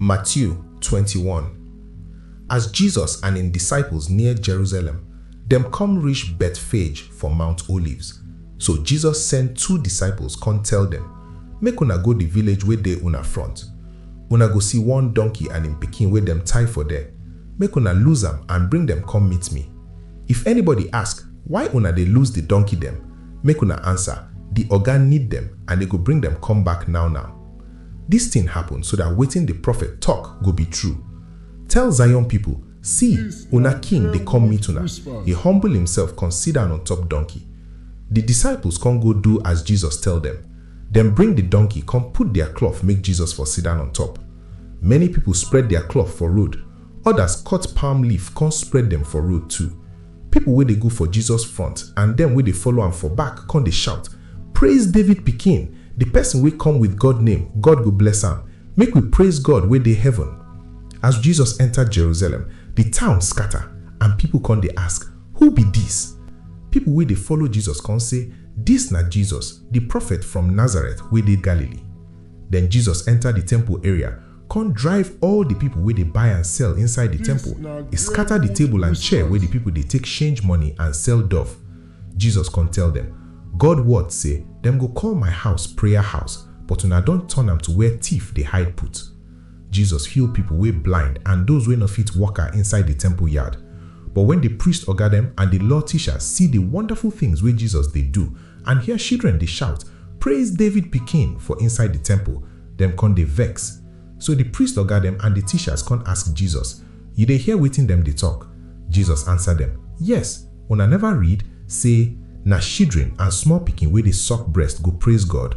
Matthew 21 As Jesus and im disciples near Jerusalem, dem come reach Bethphage for Mount Olives. So Jesus send two disciples come tell dem, Make una go the village wey dey una front. Una go see one donkey and im pikin wey dem tie for there. Make una loose am and bring dem come meet me. If anybody ask, Why una dey loose the donkey dem? Make una answer, The Oga need dem and e go bring dem come back now now. Dis tin happen so dat wetin di profet tok go bi tru, Tell Zion pipol, Si, una King dey kom meet una, e humble imself kon sidan on-top donkey. Di disciples kon go do as Jesus tell dem. Dem bring di donkey kon put dia klot make Jesus for sidan on-top. Many pipol spread dia klot for road, odas kot palm leaf kon spread dem for road too. Pipo wey dey go for Jesus front and dem wey dey follow am for back con dey shout, Praise David Pikin! Di pesin wey come with God name, God go bless am! Make we praise God wey dey heaven! As Jesus enta Jerusalem, di town scata, and pipo con dey ask, Who be dis? Pipo wey dey follow Jesus con say, Dis na Jesus, di prophet from Nazareth wey dey Galilee. Den Jesus enta di temple area, come drive all di pipo wey dey buy and sell inside di temple, e scata di table and chair wey di pipo dey take shange money and sell dove. Jesus come tell dem, God word sey, Dem go call my house prayer house, but una don turn am to where tief dey hide put. Jesus heal pipo wey blind and doz wey nor fit waka inside di temple yard. But wen di priest oga dem and di law teachers see di wonderful tins wey Jesus dey do and hear shidren dey shout, Praise David Pikin! for inside di temple, Dem kon dey vex. So di priest oga dem and di teachers kon ask Jesus, Yu dey hear wetin dem dey tok? Jesus ansa dem, Yes! Una neva read sey, Na shidren and small pikin wey dey suck brest go praiz God?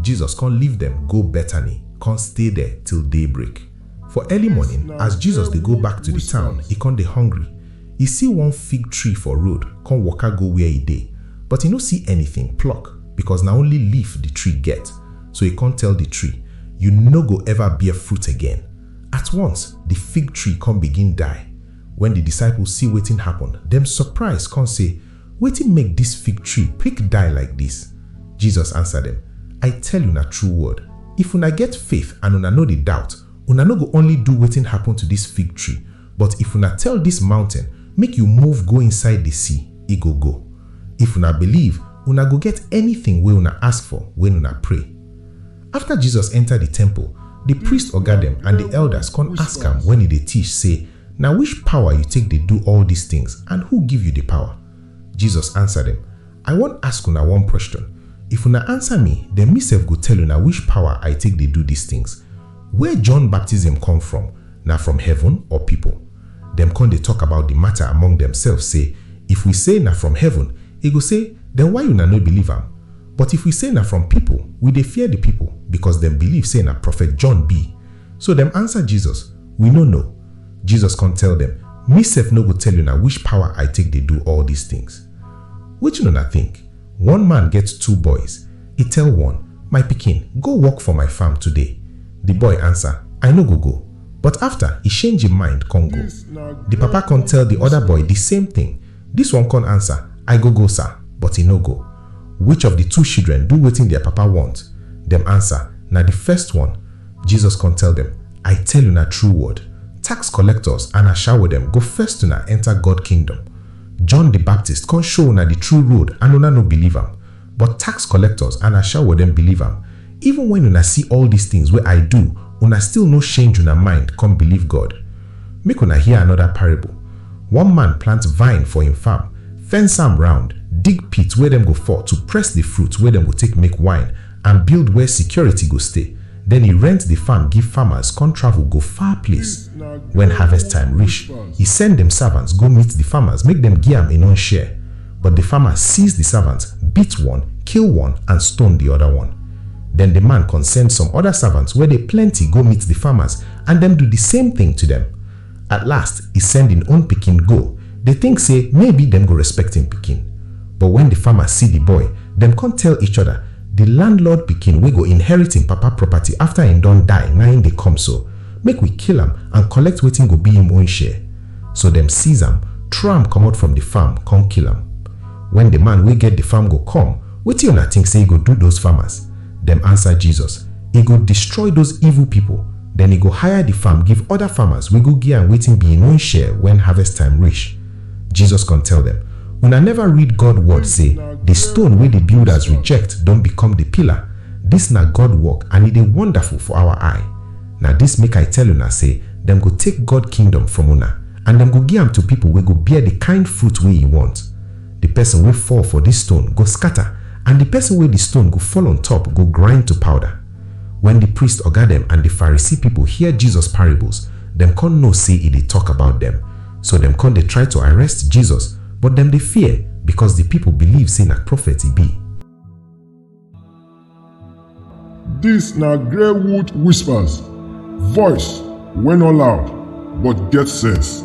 Jesus kon leave dem go Betani kon stay der till daybreak. For early morning, as Jesus dey go back to di town, e kon dey hungry. E si one fig tree for road, kon waka go where e dey, but e no si anytin pluck, bikos na only leaf di tree get. So he come tell the tree, You no go ever bear fruit again. At once, the fig tree come begin die. When the disciples see wetin happen, dem surprise come say, Wetin make this fig tree quick die like this? Jesus answer them, I tell una true word, if una get faith and una no dey doubt, una no go only do wetin happen to this fig tree, But if una tell dis mountain, Make you move go inside di sea, e go go. If una believe, una go get anytin wey una ask for wen una pray. Afta Jesus enta di temple, di priest oga dem and di elders con ask am wen e dey tish sey, Na wish pawa you take dey do all dis tins and who give you di pawa? Jesus ansa dem, I wan ask una one question, if una answer me then me sef go tell una which power I take dey do dis things. Where John baptism come from, na from heaven or people? Dem come dey talk about the matter among themselves say if we say na from heaven, e go say then why una no believe am? But if we say na from people, we dey fear the people because dem believe say na prophet John be. So dem answer Jesus, we no know. Jesus come tell dem, me sef no go tell una which power I take dey do all dis things. Wetin una think? One man get two boys, e tell one, My pikin, go work for my farm today. Di boy answer, I no go go. But after, e shange im mind con go. Di papa con tell di other boy di same thing. Dis one con answer, I go go sir, but e no go. Which of di two shidren do wetin dia papa want? Dem answer, Na di first one. Jesus con tell dem, I tell una true word, tax collectors and ashawo dem go first una enter God kingdom. John di Baptist kon show una di true road and una no biliv am, but tax kolektors and ashawo dem biliv am. Even wen una si all dis tins wey I du, una stil no shenj una mind kon biliv God. Make una hear anoda parable, One man plant vine for en farm, fence am round, dig pit where dem go for to press di fruit wey dem go take make wine and build where sikioriti go stay. den e rent di farm give farmers kon travel go far place. Wen harvest time rish, e send dem savants go meet di farmers make dem gi am en own share, but di farmers seize di savants, beat one, kill one and stone di oda one. Den di man kon send some oda savants wey dey plenty go meet di farmers and dem do di same tin to dem. At last, e send im own pikin go, dey think say maybe dem go respect im pikin. But when the farmer see the boy, dem come tell each other, The landlord pikin wey go inherit im papa property after im don die na im dey come so, make we kill am and collect wetin go be im own share. So dem seize am, throw am comot from the farm, come kill am. When the man wey get the farm go come, wetin una think say e go do those farmers? Dem answer Jesus, E go destroy those evil people. den e go hire di farm give oda farmers wey go gi am wetin bi im own share wen harvest time rish. Jesus kon tell dem, Una neva read God word sey, Di stone wey di builders reject don bikom di pillar? Dis na God work and e dey wonderful for awa eye. Na dis make I tell una sey dem go take God kingdom from una and dem go gi am to pipol wey go bear di kind fruit wey e want. Di pesin wey fall for dis stone go skata and di pesin wey di stone go fall on top go grind to powder. Wen di priest oga dem and di Pharisee pipo hear Jesus parables, dem con know sey e dey tok about dem. So dem con dey try to arrest Jesus, but dem dey fear, becos di pipo believe sey na prophet e be. Dis na Greywood Whispers, voice wey no loud but get sense.